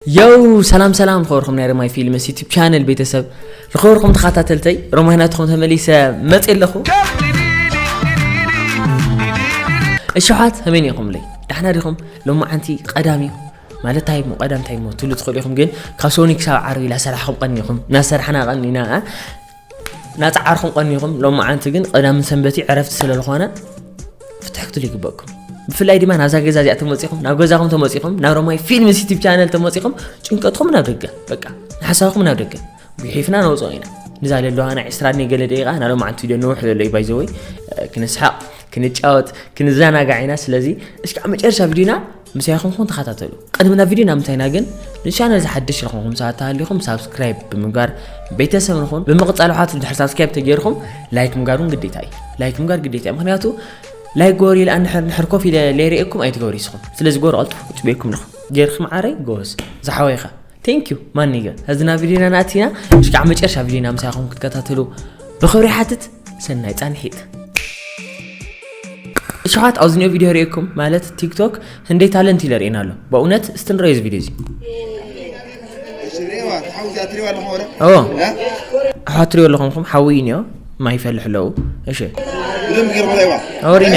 ዮው ሰላም ሰላም ዝኸበርኩም ናይ ረማይ ፊልምስ ዩቱብ ቻነል ቤተሰብ ዝኸበርኩም ተኸታተልተይ ረማይ ናትኹም ተመሊሰ መፅ ኣለኹ እሸሓት ከመይ ኢኹምለይ ዳሕና ዲኹም ሎማዓንቲ ቀዳም እዩ ማለት እንታይ እሞ ቀዳም እንታይ እሞ ትብሉ ትኽእሉ ኢኹም ግን ካብ ሶኒ ክሳብ ዓርቢ ኢላ ሰራሕኹም ቀኒኹም እናሰራሕና ቀኒና ናጻዓርኩም ቀኒኩም ሎማዓንቲ ግን ቐዳምን ሰንበትዩ ዕረፍቲ ስለልኾነ ፍትሕ ክትሉ ይግበእኩም ብፍላይ ድማ ናብዛ ገዛ እዚኣ ተመጺኹም ናብ ገዛኹም ተመጺኹም ናብ ሮማይ ፊልም ሲቲብ ቻነል ተመጺኹም ጭንቀትኩም ናብ ደገ በቃ ንሓሳብኩም ናብ ደገ ጉሒፍና ነውፅኦ ኢና ንዛ ለለዋና ዕስራ ድኔ ገለ ደቂቃ ናብ ሎማዓንቲ ቪድዮ ንውሕ ዘሎ እዩ ባይዘወይ ክንስሓቕ ክንጫወት ክንዘናጋዕ ኢና ስለዚ እስካዕ መጨረሻ ቪድዮና ምሳይ ኹንኩም ተኸታተሉ። ቅድሚ ናብ ቪድዮ ናምንታይ ኢና ግን ንቻነል ዝሓድሽ ዝኾንኩም ሰባት ተሃሊኹም ሳብስክራይብ ብምግባር ቤተሰብ ንኹን። ብምቕጻል ውሓት ድሕሪ ሳብስክራይብ ተገይርኩም ላይክ ምግባር እውን ግዴታ እዩ። ላይክ ምግባር ግዴታ እዩ ምክንያቱ ላይክ ገበሩ ኢለ ኣንድሕር ንሕር ኮፍ ኢለ ለይርእየኩም ኣይትገብሩ ይስኹም ስለዚ ገበሩ ቀልጥፉ ክጽበየኩም ንኹ ገይርኩም ዓረይ ጎበዝ ዝሓወይ ኢኻ Thank you ማኒገ ሕዝና ቪዲዮና ናእቲና ምስ ከዓ መጨረሻ ቪዲዮና ምሳይኹም ክትከታተሉ ብኽብሪ ሓትት ሰናይ ፃንሒት እሸኻት ኣብዚ ኒኦ ቪዲዮ ርእኩም ማለት ቲክቶክ ህንደይ ታለንት ኢለ ርእና ኣሎ በእውነት እስቲ ንረዮ እዚ ቪዲዮ እዚ ኣሕዋት ትሪኦ ኣለኹም ኹም ሓዊ እዩ ኒኦ ማይ ይፈልሕ ኣለዉ እሺ ሪና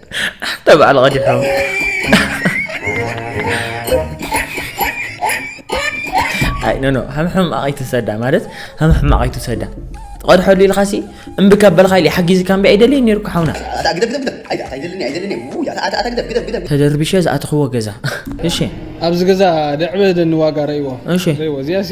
ኣንታ በዓል ቐዲሑ ኣይ ኖ ኖ ሃም ሕማቕ ኣይትውሰዳ ማለት ሃም ሕማቕ ኣይትውሰዳ ትቐድሐሉ ኢልኻሲ እምቢ ካብ በልካ ኢለ ሓጊዝካ እምቢ ኣይደልየን ነይሩካ ሓውና ተደርቢሸ ዝኣተኽዎ ገዛ እሺ ኣብዚ ገዛ ደዕበ ደኒ ዋጋ ረእዎ እሺ ረእዎ እዚኣ ሲ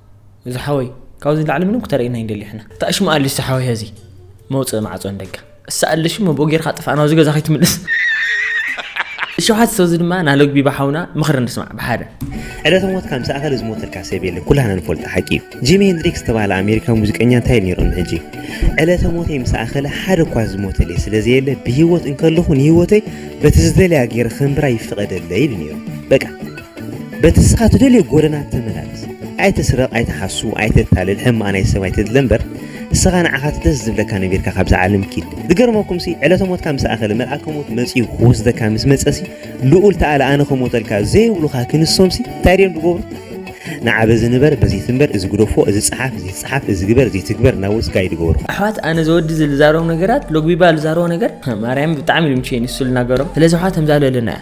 እዚ ሓወይ ካብዚ ንላዕሊ ምንም ክተርእየና ኣይንደሊ ሕና እታ እሽሙ ኣልሽ ዝሓወይ ሀዚ መውፅእ ማዕፆ ንደጋ እሳ ኣለሽ መቦ ጌርካ ጥፋእ ናብዚ ገዛ ከይትምልስ ሸውሓት ሰብዚ ድማ ናለግቢ ባሓውና ምኽሪ ንስማዕ ብሓደ ዕለተ ሞትካ ምስ ኣኸለ ዝሞተልካ ሰብ የለ ኩላህና ንፈልጦ ሓቂ እዩ ጂሚ ሄንድሪክ ዝተባህለ ኣሜሪካዊ ሙዚቀኛ እንታይ እዩ ነይሩ ንሕጂ ዕለተ ሞተይ ምስ ኣኸለ ሓደ እኳ ዝሞተለይ ስለ ዘየለ ብሂወት እንከለኹ ንሂወተይ በቲ ዝደለያ ገይረ ከንብራ ይፍቐደለይ ኢሉ ነይሩ በቃ በቲ እስኻ ትደልዮ ጎደና ተመላለስ። ኣይትስረቕ፣ ኣይትሓሱ፣ ኣይተታልል፣ ሕማቕ ናይ ሰብ ኣይትድለ እምበር እስኻ ንዓኻ እቲ ደስ ዝብለካ ነቢርካ ካብዛ ዓለም ኪድ። ዝገርመኩምሲ ዕለተ ሞትካ ምስ ኣኸለ መልኣከ ሞት መጺኡ ክወስደካ ምስ መጸሲ ልኡል ተኣለ ኣነ ክሞተልካ ዘይብሉኻ ክንሶምሲ እንታይ ድዮም ዝገብሩ? ንዓ በዚ ንበር በዚ ትንበር እዚ ግደፎ እዚ ጸሓፍ እዚ ይጸሓፍ እዚ ግበር እዚ ይትግበር እናበሉስ ጋይድ ይገብሩኻ። ኣሕዋት ኣነ ዘወዲ እዚ ልዛረቦም ነገራት ሎግቢባ ልዛረቦ ነገር ማርያም ብጣዕሚ ልምችየኒ እሱ ልናገሮም ስለዚ ኣሕዋት ተምዛለለና እያ።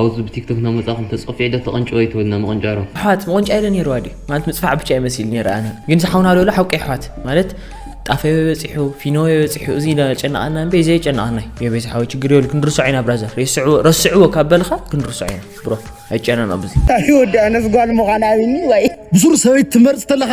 ኣውዝ ብቲክቶክ ናመጻኹም ተጸፊዑ ዶ ተቀንጭወ ይትብልና ምቅንጫሮ። ኣሕዋት ምቁንጫይ ዶ ነይርዋ ድዩ ማለት ምጽፋዕ ብቻ እዩ መሲሉ ነይሩ ኣነ ግን እዚ ሓውና ዶሎ ሓቁ ኣሕዋት ማለት ጣፈ ኣበይ በጺሑ ፊኖ ኣበይ በጺሑ እዚ ዶ ጨነቃና እምበይ ዘይ ጨነቃናይ የቤት ሓወይ ችግር የብሉ ክንርስዖ ኢና ብራዘር ሬስዕዎ ረስዕዎ ካብ በልካ ክንርስዖ ኢና ብሮ ኣይጨነና ብዙ ኣይወዳነስ ጓል ምዃን ኣብኒ ወይ ብሱር ሰበይት ትመርጽ ተለኻ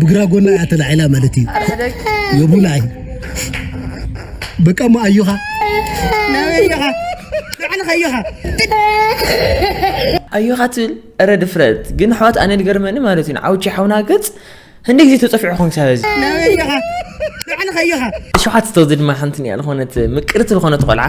ብግራ ጎና እያ ተላዒላ ማለት እዩ የቡላይ በቃ ሞ ኣዮኻ ኣዮኻ ንዓንኻ ኣዮኻ ኣዮኻ ትብል እረ ድፍረት ግን ኣሕዋት ኣነ ዝገርመኒ ማለት እዩ ንዓውቺ ሓውና ገፅ ህንደ ግዜ ተፀፊዑ ኹን ክሳብ እዚ ኣዮኻ ንዓንኻ ኣዮኻ ሸውዓተ ተወዚ ድማ ሓንቲ እኒኣ ዝኾነት ምቅርቲ ዝኾነት ቆልዓ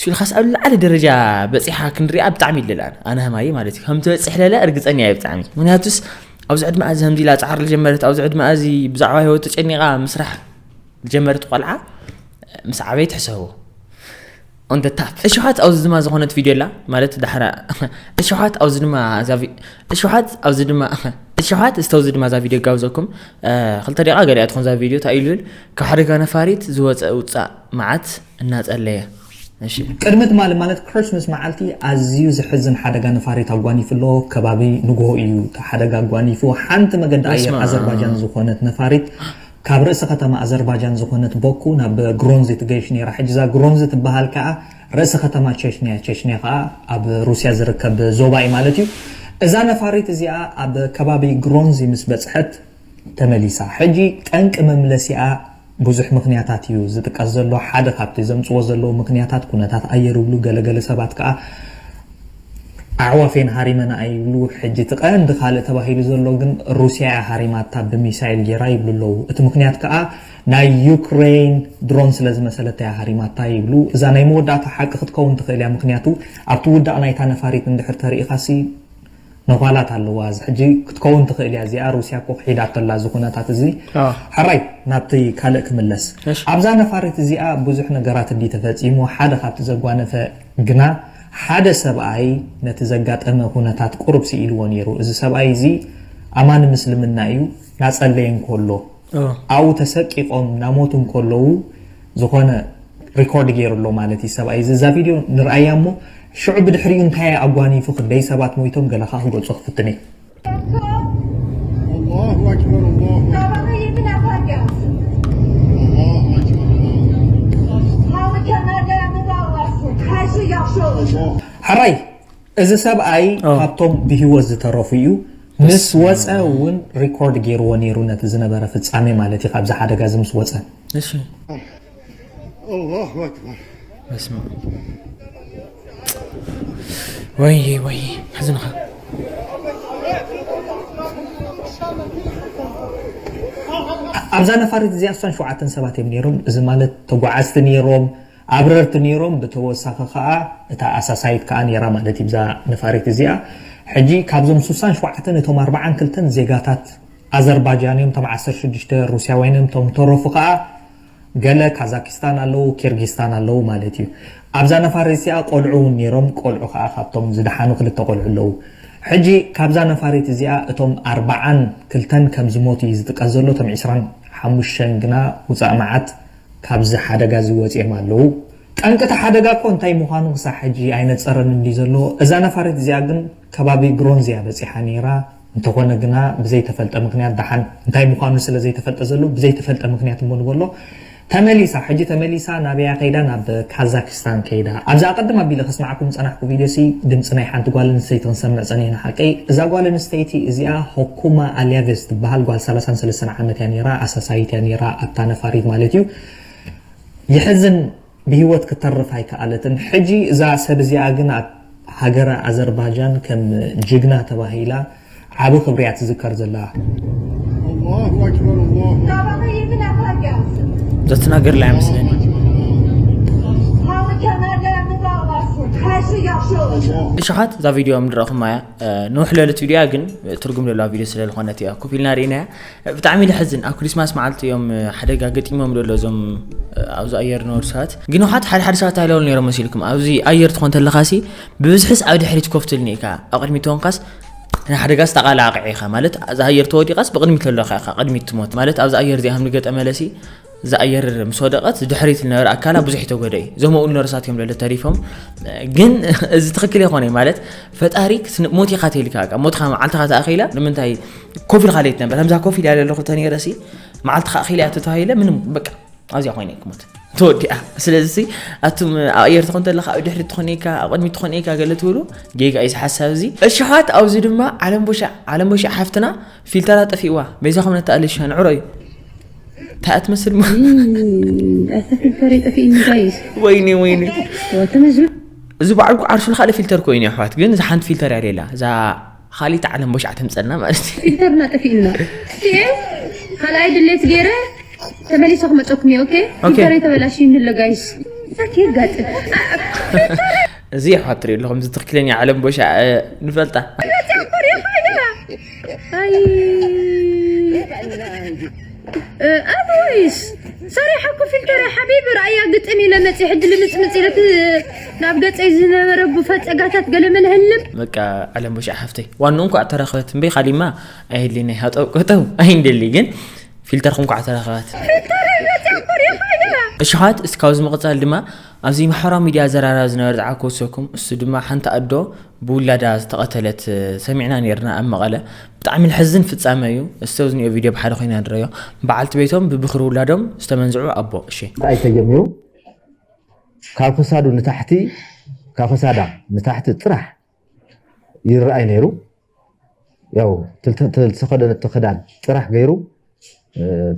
ስኢልካስ ኣብ ልዓሊ ደረጃ በጺሓ ክንሪኣ ብጣዕሚ ይደለ ኣነ ኣነ ሃማይ ማለት እዩ ከም ትበጽሕ ለለ እርግጸኛ እየ ብጣዕሚ ምክንያቱስ ኣብዚ ዕድመኣ እዚ ከምዚ ኢላ ጻዕሪ ዝጀመረት ኣብዚ ዕድመኣ እዚ ብዛዕባ ህይወት ተጨኒቓ ምስራሕ ዝጀመረት ቆልዓ ምስ ዓበይ ትሕሰቡ on the top እሽሓት ኣብዚ ድማ ዝኾነት ቪድዮ ኣላ ማለት ዳሕራ እሽሓት ኣብዚ ድማ እዛ እሽሓት ኣብዚ ድማ እሽሓት ዝተውዚ ድማ እዛ ቪድዮ ጋብዘኩም ክልተ ደቂቃ ገሊኣ ትኾን እዛ ቪድዮ እንታይ ኢሉ ካብ ሓደጋ ነፋሪት ዝወፀ ውፃእ መዓት እናጸለየ እሺ። ቅድሚ ትማሊ ማለት Christmas መዓልቲ ኣዝዩ ዘሕዝን ሓደጋ ነፋሪት ኣጓኒፉ'ሎ፣ ከባቢ ንግሆ እዩ እቲ ሓደጋ ኣጓኒፉ፣ ሓንቲ መገዲ ኣየር ኣዘርባጃን በስመኣም። ዝኾነት ነፋሪት ካብ ርእሲ ከተማ ኣዘርባጃን ዝኾነት ቦኩ ናብ ግሮንዚ ትገይሽ ኔራ፣ ሕጂ እዛ ግሮንዚ ትበሃል ከኣ ርእሲ ከተማ ቸችንያ እያ፣ ቸችንያ ከኣ ኣብ ሩስያ ዝርከብ ዞባ እዩ ማለት እዩ፣ እዛ ነፋሪት እዚኣ ኣብ ከባቢ ግሮንዚ ምስ በጽሐት፣ ተመሊሳ። ሕጂ ጠንቂ መምለሲኣ ብዙሕ ምኽንያታት እዩ ዝጥቀስ ዘሎ። ሓደ ካብቲ ዘምጽዎ ዘለዉ ምኽንያታት ኩነታት ኣየር ይብሉ፣ ገለ ገለ ሰባት ከኣ ኣዕዋፍ እየን ሃሪመንኣ ይብሉ። ሕጂ እቲ ቀንዲ ካልእ ተባሂሉ ዘሎ ግን ሩስያ እያ ሃሪማታ ብሚሳይል ጌራ ይብሉ ኣለዉ። እቲ ምኽንያት ከኣ ናይ ዩክረይን ድሮን ስለ ዝመሰለታ እያ ሃሪማታ ይብሉ። እዛ ናይ መወዳእታ ሓቂ ክትከውን ትኽእል እያ፣ ምኽንያቱ ኣብቲ ውዳቕ ናይታ ነፋሪት እንድሕር ተርኢኻሲ፣ ነዃላት ኣለዋ እዚ ሕጂ ክትከውን ትኽእል እያ እዚኣ ሩስያ እኮ ክሒዳቶ ኣላ እዚ ኩነታት እዚ ሕራይ ናብቲ ካልእ ክምለስ ኣብዛ ነፋሪት እዚኣ ብዙሕ ነገራት እንድዩ ተፈጺሙ ሓደ ካብቲ ዘጓነፈ ግና ሓደ ሰብኣይ ነቲ ዘጋጠመ ኩነታት ቁሩብ ስኢልዎ ኔሩ እዚ ሰብኣይ እዚ ኣማኒ ምስልምና እዩ ናጸለየ እንኮሎ ኣብኡ ተሰቂቆም ናሞቱ እንከለዉ ዝኾነ ሪኮርድ ጌሩ ኣሎ ማለት እዩ ሰብኣይ እዚ እዛ ቪድዮ ንርኣያ እሞ ሽዑ ብድሕሪኡ እንታይ እዩ ኣጓኒፉ ክንደይ ሰባት ሞይቶም ገለ ከኣ ክገልጾ ክፍትን እየ ሐራይ እዚ ሰብኣይ ካብቶም ብሂወት ዝተረፉ እዩ ምስ ወጸ ውን ሪኮርድ ጌርዎ ኔሩ ነቲ ዝነበረ ፍጻሜ ማለት እዩ ካብዚ ሓደጋ እዚ ምስ ወጸ። ኣላሁ ኣክበር ወይይ ወይይ ሕዝንኻ ኣብዛ ነፋሪት እዚኣ ኣስታት ሸውዓተ ሰባት እዮም ኔሮም እዚ ማለት ተጓዓዝቲ ኔሮም። ኣብረርቲ ኔሮም ብተወሳኺ ከኣ እታ ኣሳሳይት ከኣ ኔራ ማለት እዩ እዛ ነፋሪት እዚኣ ሕጂ ካብዞም ሱሳን ሸውዓተን እቶም ኣርባዓን ክልተን ዜጋታት ኣዘርባጃን እዮም እቶም ዓሰርተ ሽዱሽተ ሩስያውያን እዮም እቶም ዝተረፉ ከኣ ገለ ካዛኪስታን ኣለዉ ኪርጊስታን ኣለዉ ማለት እዩ ኣብዛ ነፋሪት እዚኣ ቆልዑ ውን ኔሮም ቆልዑ ከኣ ካብቶም ዝደሓኑ ክልተ ቆልዑ ኣለዉ ሕጂ ካብዛ ነፋሪት እዚኣ እቶም ኣርባዓን ክልተን ከም ዝሞቱ እዩ ዝጥቀስ ዘሎ እቶም ዕስራን ሓሙሽተን ግና ውጻእ መዓት ካብዚ ሓደጋ እዚ ወጺኦም ኣለዉ። ጠንቂ እቲ ሓደጋ እኮ እንታይ ምዃኑ ክሳዕ ሕጂ ኣይነጸረን እንድዩ ዘሎ። እዛ ነፋሪት እዚኣ ግን ከባቢ ግሮንዝ እያ በጺሓ ነይራ። እንተኾነ ግና ብዘይተፈልጠ ምኽንያት ደሓን እንታይ ምዃኑ ስለ ዘይተፈልጠ ዘሎ ብዘይተፈልጠ ምኽንያት እሞ ንበሎ ተመሊሳ። ሕጂ ተመሊሳ ናበይ እያ ከይዳ ናብ ካዛኪስታን። ሳን ከይዳ ኣብዛ ኣቀድም ኣቢለ ከስማዓኩም ዝጸናሕኩ ቪድዮ ሲ ድምጺ ናይ ሓንቲ ጓል ኣንስተይቲ ክንሰምዕ ጸኒሕና ሓቀይ እዛ ጓል ኣንስተይቲ እዚኣ ሆኩማ ኣልያቬዝ ትበሃል ጓል ሰላሳን ሰለስተን ዓመት እያ ኔራ ኣሳሳይት እያ ኔራ ኣታ ነፋሪት ማለት እዩ የሕዝን ብሂወት ክተርፍ ኣይከኣለትን ሕጂ እዛ ሰብ እዚኣ ግን ኣብ ሃገረ ኣዘርባጃን ከም ጅግና ተባሂላ ዓቢ ክብሪ እያ ትዝከር ዘላ። Datnagar Lamslin. እሽሓት እዛ ቪድዮ ምድረኹም እያ ንውሕ ለለት ቪድዮ ግን ትርጉም ዘለዋ ቪድዮ ስለ ዝኾነት እያ ኮፍ ኢልና ርኢና እያ ብጣዕሚ ልሕዝን ኣብ ክሪስማስ መዓልቲ እዮም ሓደጋ ገጢሞም ደሎ እዞም ኣብዚ ኣየር ዝነበሩ ሰባት ግን ውሓት ሓደ ሓደ ሰባት ኣይለውሉ ነይሮም መሲልኩም ኣብዚ ኣየር ትኾን ተለኻሲ ብብዝሕስ ኣብ ድሕሪት ኮፍ ትልኒ ኢካ ኣብ ቅድሚት ተኾንካስ ንሓደጋስ ተቓላዕቂ ኢኻ ማለት እዛ ኣየር ተወዲቓስ ብቕድሚት ዘለካ ኢኻ ቅድሚት ትሞት ማለት ኣብዚ ኣየር እዚኣ ከም ንገጠመለሲ እዛ ኣየር ምስ ወደቐት ድሕሪት ዝነበረ ኣካላ ብዙሕ ይተጎደ እዩ እዞም ኣብኡ ነርሳት እዮም ለለ ተሪፎም ግን እዚ ትኽክል ይኾነ ማለት ፈጣሪ ሞት ኢኻ ተልካ ሞትካ መዓልትኻ ተኣኺላ ንምንታይ ኮፍ ኢልካ ለይት ነበር ከምዛ ኮፍ ኢል ያለ ኣለኹ ተነይረሲ መዓልትኻ ኣኺላ እያ ተተባሂለ ምንም በቃ ኣብዚኣ ኮይነ ክሞት ተወዲኣ ስለዚ ኣቱም ኣየር ትኾን ተለካ ኣብ ድሕሪ ትኾን ኢካ ኣብ ቅድሚ ትኾን ኢካ ገለ ትብሉ ጌጋ እዩ ሓሳብ እዚ እሽሓት ኣብዚ ድማ ዓለም ቦሻዕ ዓለም ቦሻዕ ሓፍትና ፊልተራ ጠፊእዋ በይዛኹም ነተኣልሻ ንዕሮ እዩ እንታይ እትመስል ኣታ ፊልተር ጠፊእኒ ጋይስ ወይኒ ወይኒ እዚ በዓልኩ ዓርሱ ካልእ ፊልተር ኮይኑ ኣሕዋት ግን እዛ ሓንቲ ፊልተር እያ ሌላ እዛ ኻሊት ዓለም ቦሽ ዓተምፀና ማለት እዩ ኢንተርና ጠፊኡና እየ ካልኣይ ድሌት ገይረ ተመሊሰ ክመፀኩም እየ ኦኬ ኢንተር የተበላሽ ይንለ ጋይስ ዛት የጋጥ እዚ ኣሕዋት ትሪኡ ኣለኹም እዚ ትኽክለኛ ዓለም ቦሻ ንፈልጣ ኣበይስ ሰሪሓ ኮፍ ኢልካ ሪኣ ሓቢቢ ርኣያ ግጥም ኢለ መፅየ ሕጂ ልምፅምፅ ኢለ እቲ ናብ ገፀይ ዝነበረ ብፈ ፀጋታት ገለመለ ህልም በቃ ዓለም ቦሻዕ ሓፍተይ ዋንኡ እንኳዕ ተረኸበት እምበ ካሊማ ኣይህልየናይ ሃጠው ቀጠው ኣይንደሊ ግን ፊልተርኩም እንኳዕ ተረኸበት ፊልተር መፅያ ኮሪኻ እያ እሽሓት እስካብዚ ምቕፃል ድማ ኣብዚ ማሕበራዊ ሚድያ ዘራራ ዝነበረ ጸዓት ክወስከኩም እሱ ድማ ሓንቲ ኣዶ ብውላዳ ዝተቐተለት ሰሚዕና ነርና ኣብ መቐለ ብጣዕሚ ልሕዝን ፍጻመ እዩ እስቲ ኣብዚ ንዮ ቪድዮ ብሓደ ኮይና ንረዮ በዓልቲ ቤቶም ብብኽሪ ውላዶም ዝተመንዝዑ ኣቦ እሺ ጣይ ተጀሚሩ ካብ ክሳዱ ንታሕቲ ካብ ክሳዳ ንታሕቲ ጥራሕ ይረኣይ ነይሩ ያው ዝተኸደነቶ ክዳን ጥራሕ ገይሩ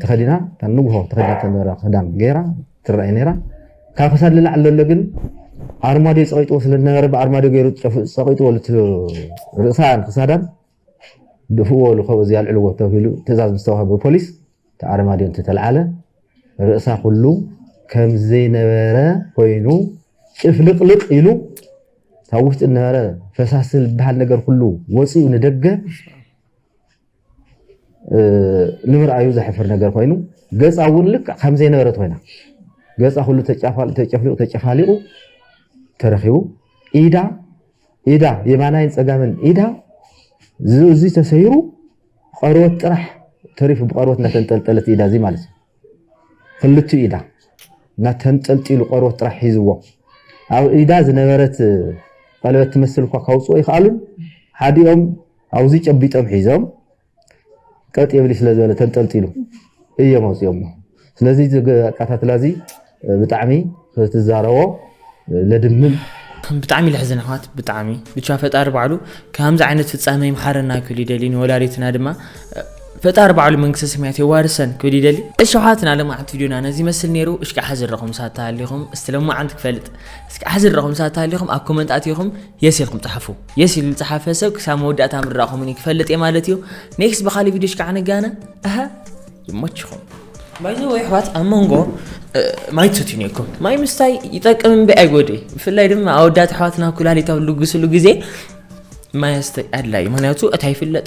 ተኸዲና ንጉሆ ተኸዲና ተነበረ ክዳን ገይራ ትረኣይ ነይራ ካብ ክሳድ ልላዕ ዘሎ ግን ኣርማድዮ ፀቂጥዎ ስለዝነበረ ብኣርማድዮ ገይሩ ፀቂጥዎ ርእሳን ክሳዳን ድፍእዎ ልኸወዚ ኣልዕልዎ ተብሂሉ ትእዛዝ ምስ ተዋህበ ፖሊስ እቲ ዓረማድዮ እንተተልዓለ ርእሳ ኩሉ ከም ዘይነበረ ኮይኑ ጭፍልቕልቕ ኢሉ ካብ ውሽጢ ዝነበረ ፈሳሲ ዝበሃል ነገር ኩሉ ወፂኡ ንደገ ንምርኣዩ ዘሕፍር ነገር ኮይኑ ገፃ እውን ልክዕ ከም ዘይነበረት ኮይና ገፃ ኩሉ ተጨፍሊቑ ተጨፋሊቑ ተረኪቡ ኢዳ ኢዳ የማናይን ጸጋምን ኢዳ እዚ ተሰይሩ ቆርበት ጥራሕ ተሪፉ ብቆርበት እናተንጠልጠለት ኢዳ እዚ ማለት ክልቱ ኢዳ እናተንጠልጢሉ ቆርበት ጥራሕ ሒዝዎ ኣብ ኢዳ ዝነበረት ቀለበት ትመስል እኳ ካውፅኦ ይክኣሉን ሓዲኦም ኣውዚ ጨቢጦም ሒዞም ቀጥ የብል ስለ ዝበለ ተንጠልጢሉ እዮም ኣውፅኦሞ። ስለዚ እዚ ኣቀታትላ እዚ ብጣዕሚ ክትዛረቦ ለድምም። ብጣዕሚ ለሕዝን ኣሕዋት ብጣዕሚ ብቻ ፈጣሪ ባዕሉ ካምዚ ዓይነት ፍጻመ ይምሓረና ክብል ይደሊ ንወላዲትና ድማ ፈጣሪ ባዕሉ መንግስተ ሰማያት የዋርሰን ክብል ይደሊ እሺ ኣሕዋትና ለማዓንቲ ቪድዮና ነዚ ይመስል ነይሩ እሽካ ሓዝረኹም ሳት ተሃሊኹም እስቲ ለማዓንቲ ክፈልጥ እስካ ሓዝረኹም ሳት ተሃሊኹም ኣብ ኮመንት ኣቲኹም የስ ኢልኩም ጸሓፉ የስ ኢሉ ልጽሓፈ ሰብ ክሳብ መወዳእታ ምርዳእኹም እኒ ክፈልጥ እየ ማለት እዩ ኔክስት ብኻሊእ ቪድዮ ሽካዕ ንጋነ ኣሀ ይመችኹም ባይዘ ወይ ኣሕዋት ኣብ መንጎ ማይ ትሰትዩ ነይርኩም ማይ ምስታይ ይጠቅም እምበይ ኣይጎድእ ብፍላይ ድማ ኣወዳት ኣሕዋትና ኩላሊት ኣብ ልግስሉ ግዜ ማይ ኣድላይ ምክንያቱ እታ ይፍለጥ